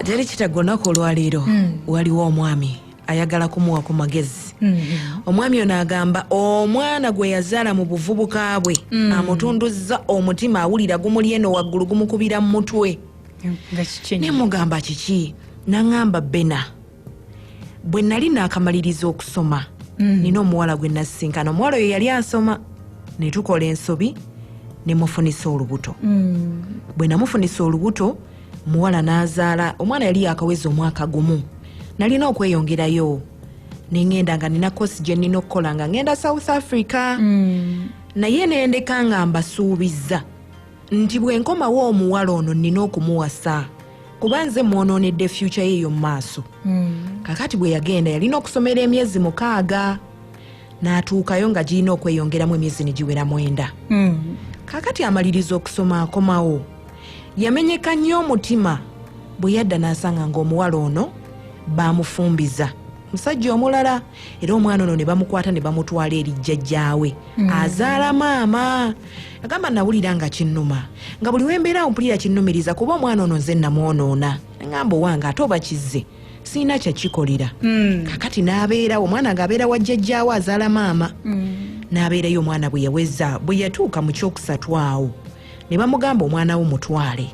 teri kitagonako olwaleero hmm. waliwo omwami ayagala kumuwa ku magezi hmm. omwami ono agamba omwana gwe yazaala mu buvubuka bwe hmm. amutunduzza omutima awulira gumuli eno waggulu gumukubira mu mutwe nemugamba kiki naŋamba bena bwe nali naakamaliriza okusoma mm. nina omuwala gwe nasisinkana omuwala oyo yali asoma ne tukola ensobi ne mufunisa olubuto mm. bwe namufunisa olubuto muwala n'azaala omwana yali yakaweza omwaka gumu nalina okweyongerayo nengenda nga nina kosi gye nina okukola nga ngenda south africa mm. naye nendeka nga mbasuubizza nti bwe nkomawo omuwala ono nnina okumuwasa kuba nze mwonoonedde fyukya ye eyo mu maaso hmm. kakati bwe yagenda yalina okusomera emyezi mukaaga n'atuukayo nga girina okweyongeramu emyezi ne giwera mwenda hmm. kakati amaliriza okusoma akomawo yamenyeka nnyo omutima bwe yadda n'asanga ng'omuwala ono baamufumbiza musajja omulala era omwana ono ne bamukwata ne bamutwala eri jjajjaawe hmm. azaala maama agamba nawulira nga kinnuma nga buli wembeera awo mpulira kinnumiriza kuba omwana ono nze namwonoona ngamba owange ate oba kizze sirina kyakikolera hmm. kakati n'abeerawo omwana ng'abeera wa jjajjaawo azaala maama hmm. n'abeerayo omwana bwe yaweza bwe yatuuka mu kyokusatu awo ne bamugamba omwana wo mutwale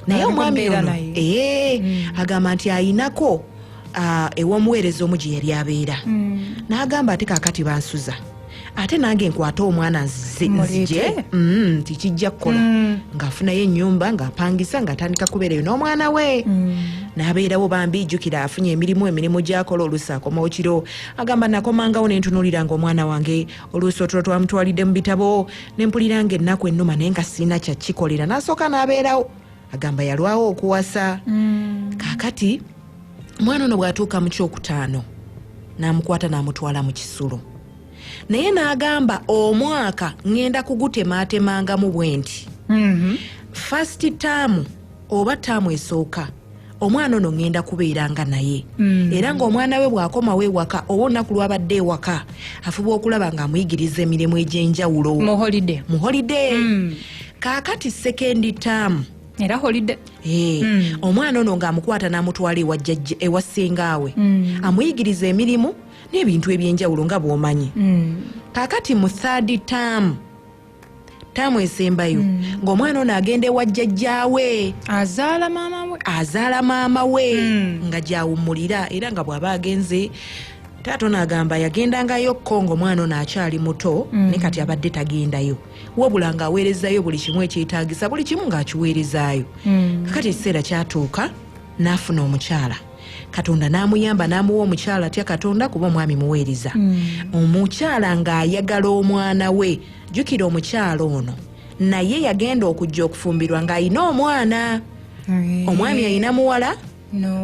naye omwami ono ee eh, hmm. agamba nti ayinako uh, ew'omuweereza omu gye yali abeera mm. n'agamba ate kakati bansuza ate nange nkwate omwana nzije mm, nti kijja kukola mm. ng'afunayo ennyumba ng'apangisa ng'atandika kubeerayo n'omwana we mm. n'abeerawo bambi jjukira afunye emirimu emirimu gy'akola oluusi akomawo kiro agamba nakomangawo ne ntunuulira ng'omwana wange oluusi otulo twamutwalidde mu bitabo ne mpulira ng'ennaku ennuma naye nga sirina kyakikolera n'asooka n'abeerawo agamba yalwawo okuwasa mm. kakati omwana ono bwatuuka mu kyokutaano namukwata namutwala mu kisulo naye nagamba omwaka ngenda kugutematemangamu bwenti mm -hmm. fast taamu oba taamu esooka omwana ono ŋŋenda kubeera nga naye mm. era ng'omwana we bw'akomawo ewaka oba olunaku lwabadde ewaka afuba okulaba ng'amuyigiriza emirimu egy'enjawulo mu holide mu holide mm. kaakati sekendi taamu era holide eh, mm. omwana ono ng'amukwata n'amutwala ewajjajja ewa ssengaawe amuyigiriza emirimu n'ebintu eby'enjawulo nga bw'omanyi kaakati mu thadi taamu taamu esembayo mm. ng'omwana ono agenda ewa jjajjaawe azaala maama we azaala maama we mm. nga gyawummulira era nga bw'aba agenze taata ono agamba yagendangayo ko ngaomwana ono akyali muto mm. ne kati abadde tagendayo wabula ng'aweerezayo buli kimu ekyetaagisa buli kimu ng'akiweerezaayo mm. kakati ekiseera kyatuuka n'afuna omukyala katonda n'amuyamba n'amuwa omukyala atya katonda kuba omwami muweereza hmm. omukyala ng'ayagala omwana we jjukira omukyala ono naye yagenda okujja okufumbirwa ng'alina omwana omwami alina muwala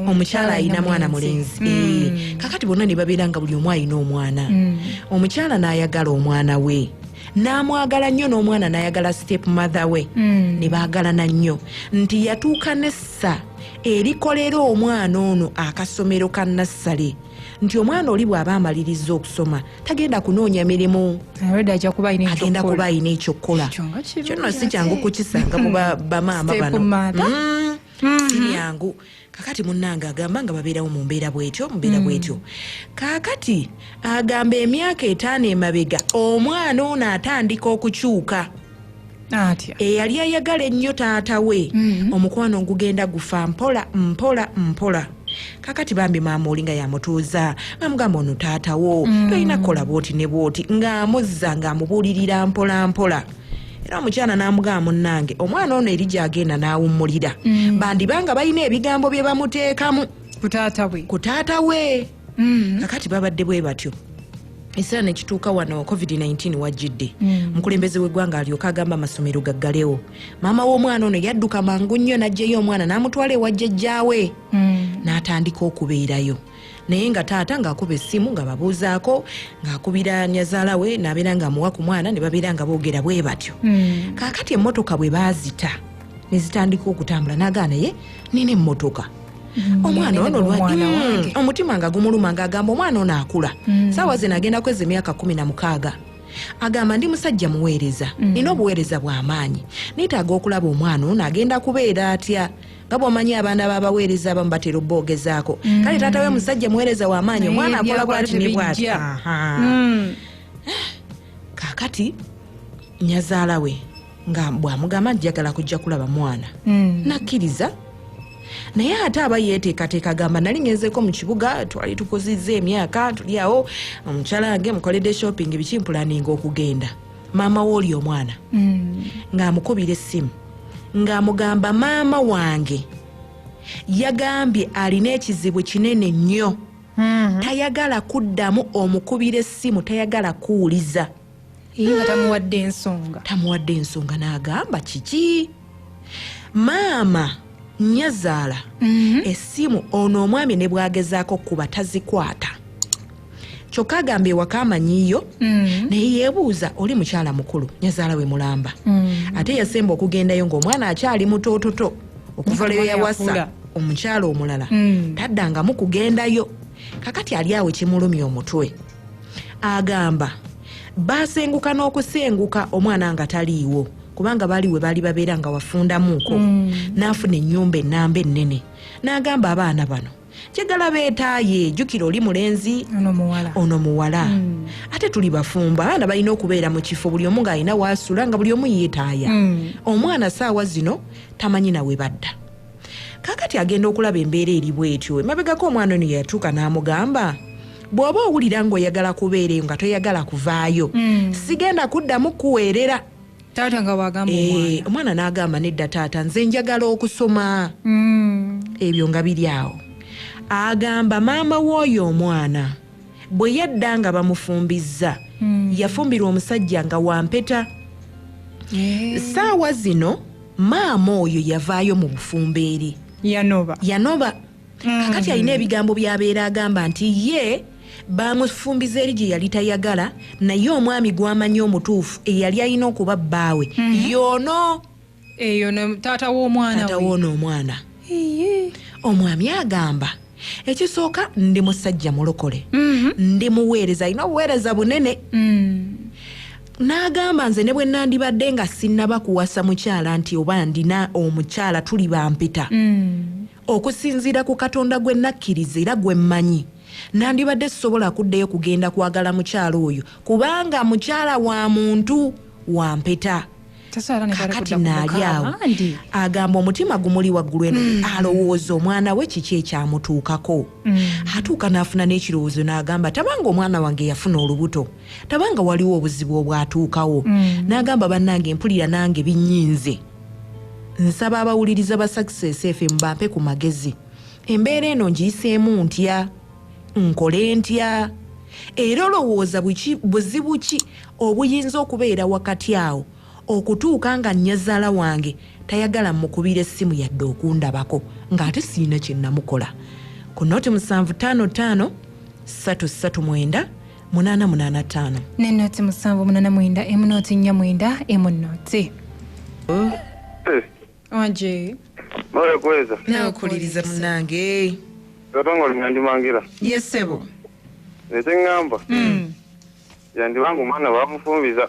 omukyala alina mwana mulenzi hmm. eh, kakati bonna ne babeera nga buli omu alina omwana hmm. omukyala n'ayagala omwana we n'amwagala nnyo n'omwana n'ayagala step mother we mm. ne baagalana nnyo nti yatuuka nessa erikolera omwana ono akasomero ka nassale nti omwana oli bw'aba amaliriza okusoma tagenda kunoonya mirimu agenda kuba alina ekyokukola kyonno si kyangu kukisanga mu bamaama bano mm. mm-hmm. si byangu mm -hmm. kakati munange agamba nga babeerawo mu mbeera bwetyo mubeera mm. bwetyo kakati agamba emyaka etaano emabega omwana ono atandika okukyuka atya eyali eh, ayagala ennyo taata we mm. omukwano ngugenda gufa mpola mpola mpola kakati bambi maama olinga yamutuuza amugamba ono taatawo mm. tolina kukola bwoti ne bwoti ng'amuzza ng'amubuulirira mpolampola era omukyala n'amugamba munnange omwana ono eri gyagenda n'awummulira mm. bandiba nga balina ebigambo bye bamuteekamu ku taata we mm. kakati babadde bwe batyo ekiseera nekituuka wano covid-19 wajjidde mm. omukulembeze mm. w'eggwanga alyoka agamba amasomero gaggalewo maama w'omwana ono yadduka mangu nnyo n'ajjeyo omwana n'amutwala ewa jjajjaawe mm. n'atandika okubeerayo naye nga taata ng'akuba essimu nga babuuzaako ng'akubira nyazaala we n'abeera ng'amuwa ku mwana ne babeera nga boogera bwe batyo hmm. kaakati emmotoka bwe baazita ne zitandika okutambula n'agaa naye nina emmotoka hmm. omwana ono lwaki hmm. omutima nga gumuluma ng'agamba omwana ono akula saawa zino agenda kweza emyaka kumi na mukaaga agamba ndi musajja muweereza mm. nina obuweereza bw'amaanyi neetaaga okulaba omwana ono agenda kubeera atya nga bwomanyi abaana babaweereza abamu batera obboogezaako mm. kale taata we musajja muweereza wamaanyi omwana akola bwati ne bwati mm. kakati nyazaala we nga bwamugamba njagala kujja kulaba mwana mm. nakkiriza naye ate aba yeteekateeka agamba nali ngenzeko mu kibuga twali tukozizza emyaka tuli awo omukyala wange mukoledde shopping bikimpulaninga okugenda maama we oli omwana mm. ng'amukubira essimu ng'amugamba maama wange yagambye alina ekizibu kinene nnyo mm-hmm. tayagala kuddamu omukubira essimu tayagala kuwuliza nga tamuwadde ensonga tamuwadde ensonga n'agamba kiki maama nyazaala mm-hmm. essimu ono omwami ne bwagezaako kuba tazikwata kyokka agamba ewaka amanyiyo mm. naye yebuuza oli mukyala mukulu nyazaala we mulamba mm. ate yasemba okugendayo ngaomwana akyali mutoototo okuva lweyo yawasa omukyala omulala mm. taddangamu kugendayo kakati ali awo kimulumya omutwe agamba basenguka n'okusenguka omwana nga taliiwo kubanga baali we baali babeera nga wafundamuuko mm. n'afuna ennyumba ennamba ennene n'agamba abaana bano njagala beetaaye jjukira oli mulenzi ono muwala hmm. ate tuli bafumbo abaana balina okubeera mu kifo buli omu ng'alina waasula nga buli omu yeetaaya hmm. omwana saawa zino tamanyi nawe badda kaakati agenda okulaba embeera eri bwetyo emabegako omwana ono yeyatuuka n'amugamba bw'oba owulira ng'oyagala kubeera eyo nga toyagala kuvaayo hmm. sigenda kuddamu kuweerera taata nga wagamba eh, omwana n'agamba nedda taata nze njagala okusoma hmm. ebyo nga biri awo agamba maama w'oyo omwana bwe yadda nga bamufumbizza hmm. yafumbirwa omusajja nga wampeta eh. saawa zino maama oyo yavaayo mu bufumbeeri yanoba yanoba mm. kakati alina ebigambo byabeera agamba nti ye baamufumbiza eri gye yali tayagala naye omwami gwamanyi omutuufu eyali alina okuba bbaawe mm -hmm. yono eyo taata womwanatawoona omwana omwami agamba ekisooka ndi musajja mulokole mhm. ndi muweereza alina obuweereza bunene mm. n'agamba nze ne bwe nandibadde nga sinnaba kuwasa mukyala nti oba ndina omukyala tuli bampita mm. Okusinziira ku Katonda gwe nakkiriza era gwe mmanyi, nandibadde sisobola kuddayo kugenda kwagala mukyala oyo kubanga mukyala wa muntu wa mpeta. Kakati naali awo agamba omutima gumuli waggulu eno mm. alowooza omwana we kiki ekyamutuukako. Mm. Atuuka n'afuna n'ekirowoozo n'agamba tabanga omwana wange yafuna olubuto. tabanga waliwo obuzibu obwatuukawo mm. n'agamba bannange mpulira nange binyinze nsaba abawuliriza ba success fm bampe ku magezi embeera eno ngiyiseemu ntya nkole ntya era olowooza buzibu ki obuyinza okubeera wakati awo okutuuka nga nnyazaala wange tayagala mukubira essimu yadde okundabako ng'ate sirina kye namukola ku noti musanvu ttaano ttaano ssatu ssatu mwenda munana munana tano ne noti musanvu munana mwenda emu noti nnya mwenda emu noti eh. oje mara kweza nawe kuliriza munange katonga olinyandimangira yesebo nekyeŋŋamba hmm. yandibange omwana bamufumbiza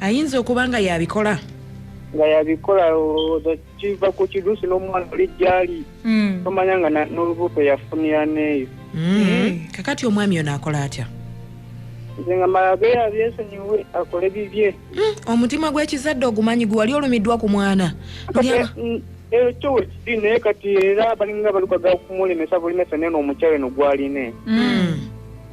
ayinza okuba nga yabikola nga yabikola kiva ku kiduusi n'omwana oli gyali hmm. tomanya nga n'olubuto yafunira neeyo hmm. eh. kakati omwami ono akola atya nze nga malabeyo abyesonyiwe akole bibye hmm. omutima gw'ekizadde ogumanyi gwe wali olumiddwa ku mwana ekyo wekiri naye kati era balinga balukaga okumulemesa bulimesa nene omukyalo eno gwaline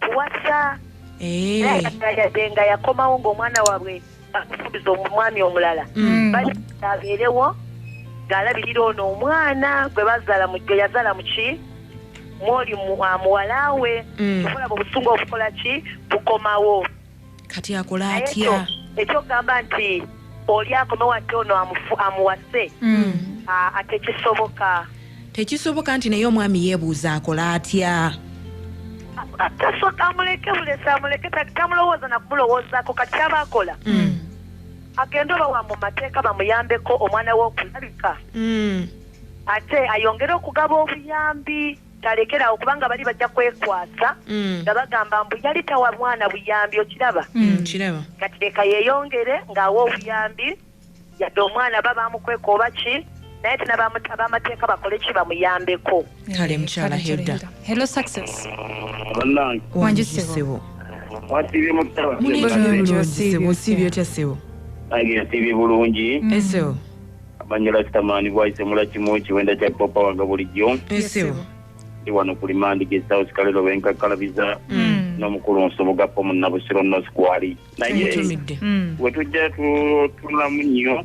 kuwasa eh. yadde nga yakomawo ngaomwana wabwe bakusuubiza omwami omulala mm. abeerewo ngaalabirira ono omwana gwe bazala gwe yazala muki mwoli muwalawe mm. okulaba obusungu obukola ki bukomawo kati akole atya ekyokugamba nti oli akomewo ate ono amuwase hmm. atekisoboka tekisoboka nti naye omwami yebuuza akole atya tasoka amuleke bulesi amuleke tamulowooza nakumulowoozaako kati kyaba akola hmm. agende oba wa mu mateeka bamuyambeko omwana we okulabika hmm. ate ayongere okugaba obuyambi talekerawo kubanga bali bajja kwekwasa mm. nga bagamba mbu yali tawa mwana buyambi okiraba mm, mm. kati leka yeyongere ngaawa obuyambi yadde omwana ba bamukweka oba ki naye tina bamateeka bakole ki bamuyambeko kale mukyala hilda hello success wanjisibo wasiibye mutabaosiibye otya sibo age nsiibye bulungi eseo Banyo Rastaman bwayise mula kimu kiwenda kya popa wanga bulijjo. Esebo. Ndi wano ku limandi ge South Kalero benkakkalabiza mm. n'omukulu nsoboga po mu Nabusiro North Kwali. Naye mm. we tujja tunulamu nnyo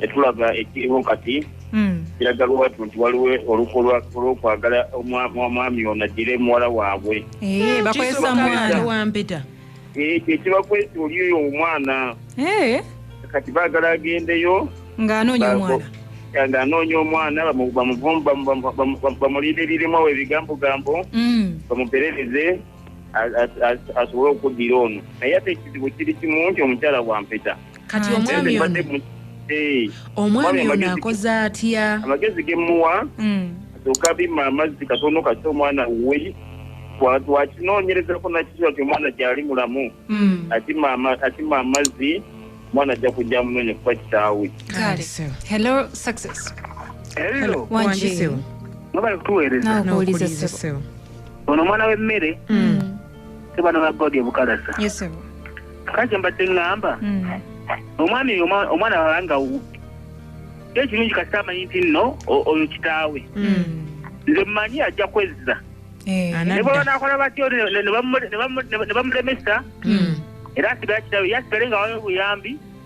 etulaba ekiriwo kati mm. kiraga lwatu nti waliwo oluko lw'okwagala omwami ono addire muwala waabwe. Eh, bakozesa mwana wampeta. ekyo ekibakwesa oli oyo omwana eh? kati baagala agendeyo ng'anoonya omwana ng'anoonya omwana bamulinde ebirimwa we ebigambogambo mm. bamuperereze asobole okuddira ono naye ate ekizibu kiri kimu nti omukyala wampeta kati omwami ono eh. omwami ono akoze atya amagezi gemuwa hmm. asooka bima amazzi katono kati omwana we twakinoonyerezako nakisoa ti omwana gyali mulamu hmm. atima amazzi omwana ajja kujja munoonya kuba kitaawe ono omwana w'emmere hmm. sebano ba God ebukalasa yes sebo kaje mbadde ngamba mm. omwami omwana wabanga kyo ekirungi kasita amanyi nti nno oyo kitaawe mm. nze mmanyi ajja kwezza eh. ne baba nakola batyo ne bamulemesa mm. era asigala kitaawe yasigale nga wayo obuyambi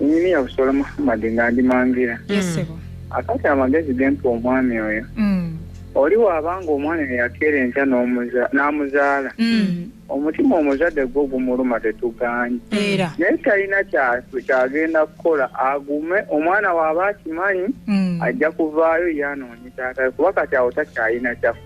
Nyini ya Busola Muhammad nga ndi mangira. Yes, sebo. Akati amagezi gempa omwami oyo. Mm. Oli wabanga omwana yakera enkya n'amuzaala. Mm. Omutima omuzadde gwo gumuluma tetuganye. Era. Naye talina kyagenda kukola agume omwana waba akimanyi mm. ajja kuvaayo yanoonye taata kuba kati awo takyalina kyakukola.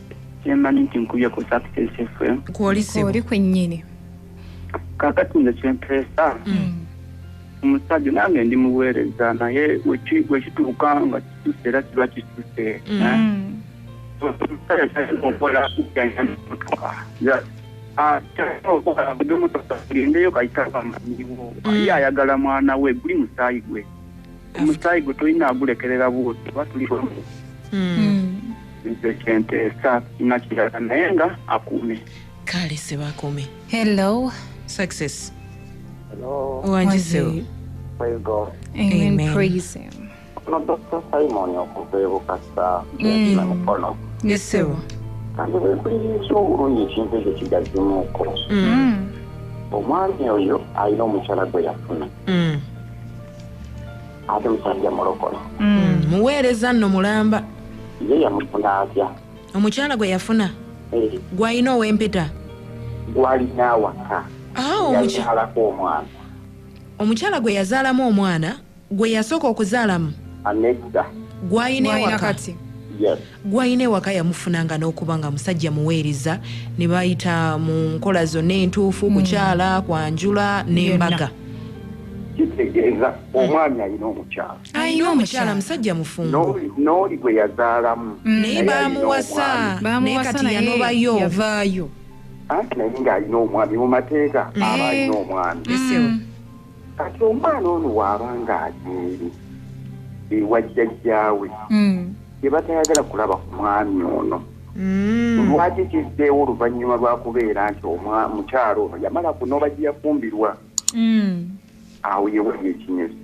kyemanyi nti nkubye ku success fm kwoli kwennyini kakati nze kyempeesa hmm. omusajja nange ndi muweereza naye wekituuka nga kituse era kiba kituse hmm. eh? gendeyo kayitaba manyiwo ye ayagala mwana we guli musaayi gwe omusaayi gwe tulina agulekerera bwoti oba tuli wamu hmm. Hmm. nze kyenteesa nakirala naye nga akuume kale sebakuume hello success wangisewo no dr simon okuva ebukasa hmm. namukono nesewo kandi bwekulirinza obulungi ekintu ekyo kigazimuuko omwami oyo alina omukyala gwe yafuna ate musajja mulokole mm, muweereza nno mulamba ye yamufuna atya omukyala gwe yafuna eh. gwalina owempeta gwalina awaka yazaalako ah, omwana omukyala gwe yazaalamu omwana gwe yasooka okuzaalamu anedda gwalina ewakati yes gwayina ewaka yamufuna nga nokuba nga musajja muweereza nebayita mu nkola zonna entuufu hmm. kukyala kwanjula nembaga kitegeeza hmm. omwami alina omukyala alina omukyala musajja mufumbo nooli gwe yazaalamu hmm. naye bamuwasa naye kati yanobayo vaayo anti naye ng'alina omwami mu mateeka aba alina omwami kati omwana ono waaba nga ageeri ewa jjajjaawe gyebatayagala hmm. kulaba ku mwami ono hmm. lwaki kizzeewo oluvannyuma lwakubeera nti mukyalo ono yamala kunoba gyeyafumbirwa hmm. awo yewali ekinyezi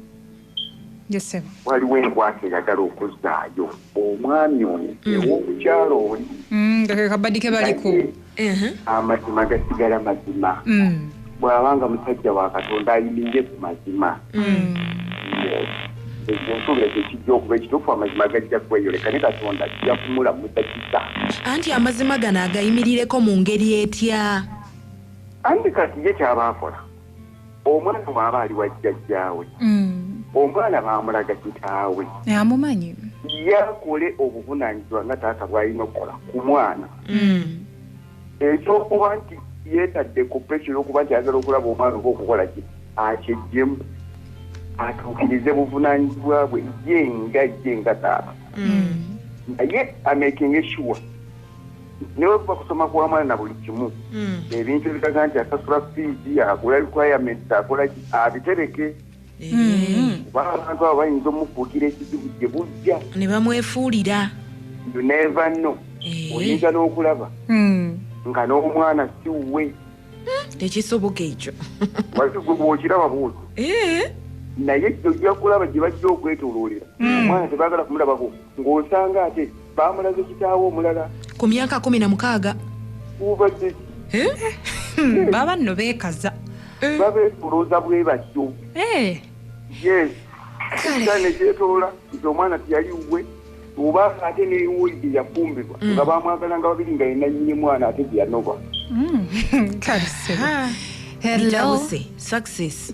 waliwo enkwata eyagala okuzzaayo omwami ono ewomukyalo oli amazima gasigala mazima mm. bwaba nga musajja wa katonda ayimirire ku mazima mm. ekyo nsuubira ekyo kijja okuba ekituufu amazima gajja kweyoleka ne katonda ajja kumulamusa kisa anti amazima gano agayimirireko mu ngeri etya anti kati ye kyaba akola omwana bwaba ali wa jjajjaawe mm. omwana bamulaga kitaawe amumanyi yakole obuvunanyizibwa nga taata bwalina okukola ku mwana mm. ekyokuba nti yetadde ku pesi yokuba nti ayagala okulaba omwana oba okukola ki akyejjemu atuukirize buvunanyizibwa bwe ye nga ye nga taata mm. naye amekinga eshuwa newebuba kusoma kwamwana na buli kimu mm. ebintu ebikaga nti asasula fiidi agula requirements akola abitereke eh. mm. kuba abantu abo bayinza omufuukira ekizibu gye bujja ne bamwefuulira neva no eh. oyinza n'okulaba mm. nga n'omwana siwuwe tekisoboka ekyo wazigwe bwokiraba bwoto eh. naye ojja kulaba gye bajja okwetoloolera omwana tebagala kumulabako ng'osanga ate baamulaze kitaawe omulala ku myaka kumi na mukaaga ubadde eh? hmm, baba nno beekaza eh. babeetolooza bwe batyo eh. yes kale gyetolola nti omwana teyali wuwe oba ate newuuli gye yafumbirwa mm. nga bamwagala nga babiri nga yenanyini mwana ate gye yanoba mm. kale sebo ah. hello success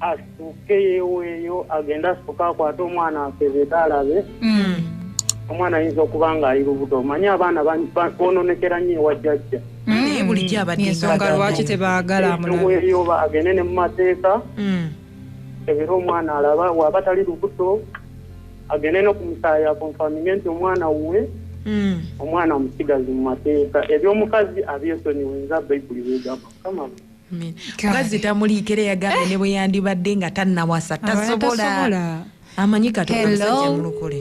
asooke yeeweeyo agende asooke akwate omwana asebeeta alabe hmm. omwana ayinza okuba ng'ali lubuto omanyi abaana bononekera nnyo ewa jjajja hmm. naye bulijjo abadensonga lwaki tebaagala amulaeyoba agende ne mu mateeka hmm. ebera omwana alaba waba tali lubuto agende no ku musaayi akonfaminge nti omwana wuwe Mm. omwana omusigazi mu mateeka eby'omukazi abyesonyiwe nza bayibuli wegamba mukama mukazi tamuliika era yagambye ne bwe yandibadde nga tannawasa tasobola amanyi katomusajjamulokole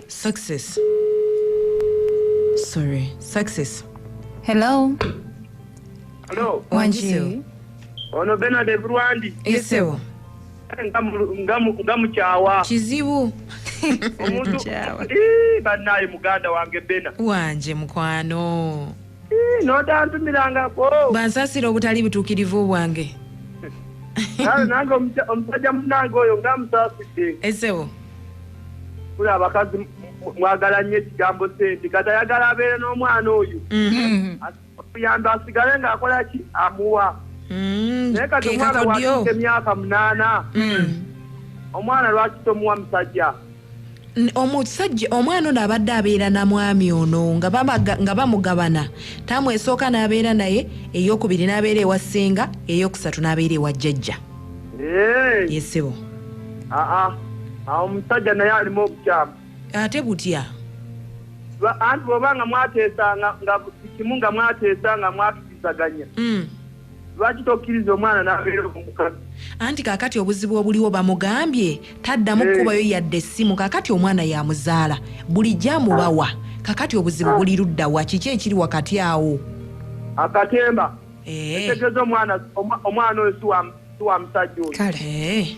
success sorry success hello hello wangi ono benard eburwandi esewo nga mukyawa kizibu omuntu banaye muganda wange bena wanje mukwano notantumirangako bansasira obutali butuukirivu bwange kale nange omusajja munange oyo nga musaasidde esewo kula abakazi mwagala nnyo ekigambo sente kati ayagala abeere n'omwana oyo mm-hmm. okuyamba asigale ng'akola ki amuwa mm, naye kati omwana wakiika emyaka munaana mm. omwana lwaki tomuwa musajja omusajja omwana ono abadde abeera na mwami ono nga bamugabana taamu esooka n'abeera naye eyokubiri n'abeera ewa ssenga eyokusatu n'abeera ewa jjajja yesebo omusajja naye alimu obukyamu ate butya anti bwoba nga mwateesa nga kimu nga mwateesa nga mwatubizaganya hmm. lwaki tokkiriza omwana n'abeera omukazi anti kakati obuzibu obuliwo bamugambye taddamu kukubayo eh. yadde essimu kakati omwana yamuzaala bulijjo amubawa kakati obuzibu ah. buli luddawa kiki ekiri wakati awo akatemba eh. etegeza omwana omwana oyo siwa musajja oyo kale eh.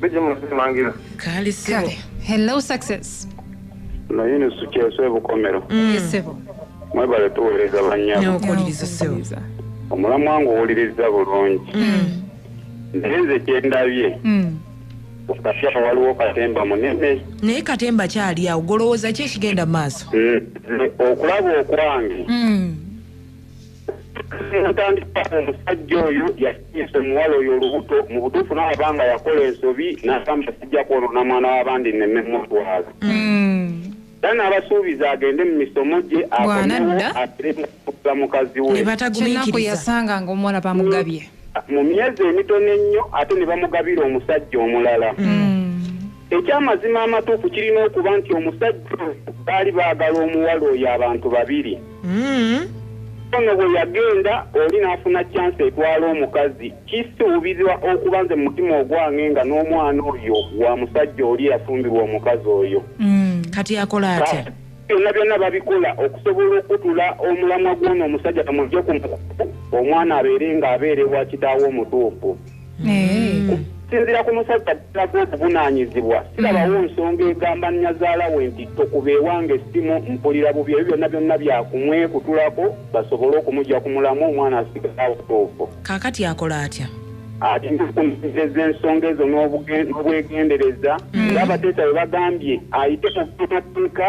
bijja mu kusimangira kaali sibo kale hello success naye ne sukyeso ebukomero yesebo mwebale tuweereza bannyabo neokuwuliriza sebo Nziza. omulamwa nga owuliriza bulungi naye nze kyendabye Mm. okasaba waliwo katemba munene naye katemba kyali awo golowooza ki ekigenda mu maaso Mm, nze okulaba okwange Mm. ntandika omusajja oyo yasinisa omuwala oyo olubuto mu butuufu n'alaba nga yakola ensobi n'agamba sijja kwonona mwana w'abandi neme mutwala era n'abasuubiza agende mu misomo gye akomewo ateremukuza mukazi we kinaku yasanga nga omuwala bamugabye mu myezi emitono ennyo ate ne bamugabira omusajja omulala mm. Ekyamazima amatuufu kirina okuba nti omusajja oyo baali baagala omuwala oyo abantu babiri. Ono bwe yagenda oli n'afuna chance etwala omukazi, kisuubirwa okuba nze mu mutima ogwange nga n'omwana oyo wa musajja oli eyafumbirwa omukazi oyo. Kati akole atya? Byonna byonna babikola okusobola okutula omulamwa gw'ono omusajja bamuggye ku mukutu omwana abeere ng'abeera ewa kitaawe omutuufu. okusinzira ku musajja addako obuvunaanyizibwa sirabawo nsonga egamba nyazaala we nti tokuba ewange essimu mpulira bubi ebyo byonna byonna byakumwekutulako basobole okumugya ku mulamu omwana asigala awutuufu kaakati akola atya ati nkukumirireza ensonga ezo n'obwegendereza hmm. ng'abateesa bwe bagambye ayite mu mateeka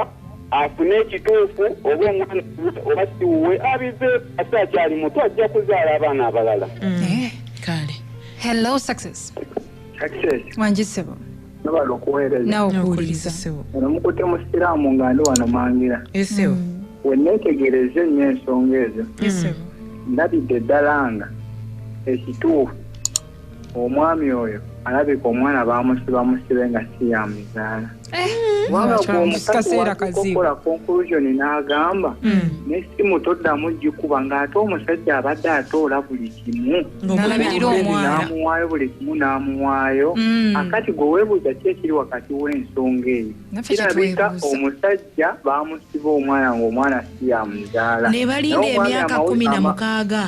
afune ekituufu oba omwana oba siwuwe abize ate akyali muto ajja kuzaala abaana abalala mm. eh. kale hello success wangisebo nabala okuweereza nawe okuwuliriza sebo nomukute musiraamu nga ndi wano mangira esebo eh, mm. weneetegereza ennyo ensonga ezo esebo eh, ndabidde ddala nga ekituufu omwami oyo alabika omwana bamusiba musibe nga si yamuzaala eh, wabulaomukaziwakola conclusion n'agamba hmm. nesimu toddamu gikuba ng'ate omusajja abadde atoola buli kimu n'amuwaayo buli kimu n'amuwaayo hmm. akati gwe weebuuza ki ekiri wakati w'ensonga eyo kirabika omusajja bamusiba omwana ng'omwana si yamuzaala nebalinda emyaka kumi na mukaaga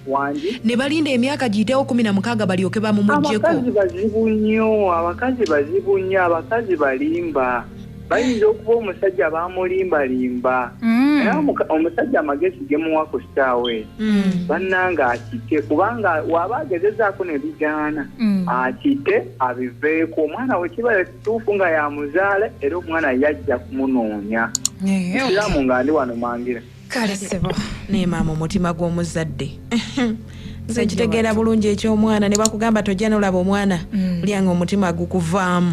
wangi ne balinda emyaka giyitewo kumi na mukaaga balyoke bamumugyeko abakazi bazibu nnyo abakazi bazibu nnyo abakazi balimba bayinza okuba omusajja bamulimbalimba Mm. era omuka- omusajja amagezi gemuwa ku ssaawa eyo Mm. bannange akite kubanga waba agezezaako ne bigaana Mm. akite abiveeko omwana we kiba kituufu nga yamuzaala era omwana yajja kumunoonya Eh, okay. ekiramu nga ndi wano mangira kale sebo naye maama omutima gw'omuzadde nze nkitegeera bulungi eky'omwana ne bakugamba tojja nolaba omwana mm. lyanga omutima gukuvaamu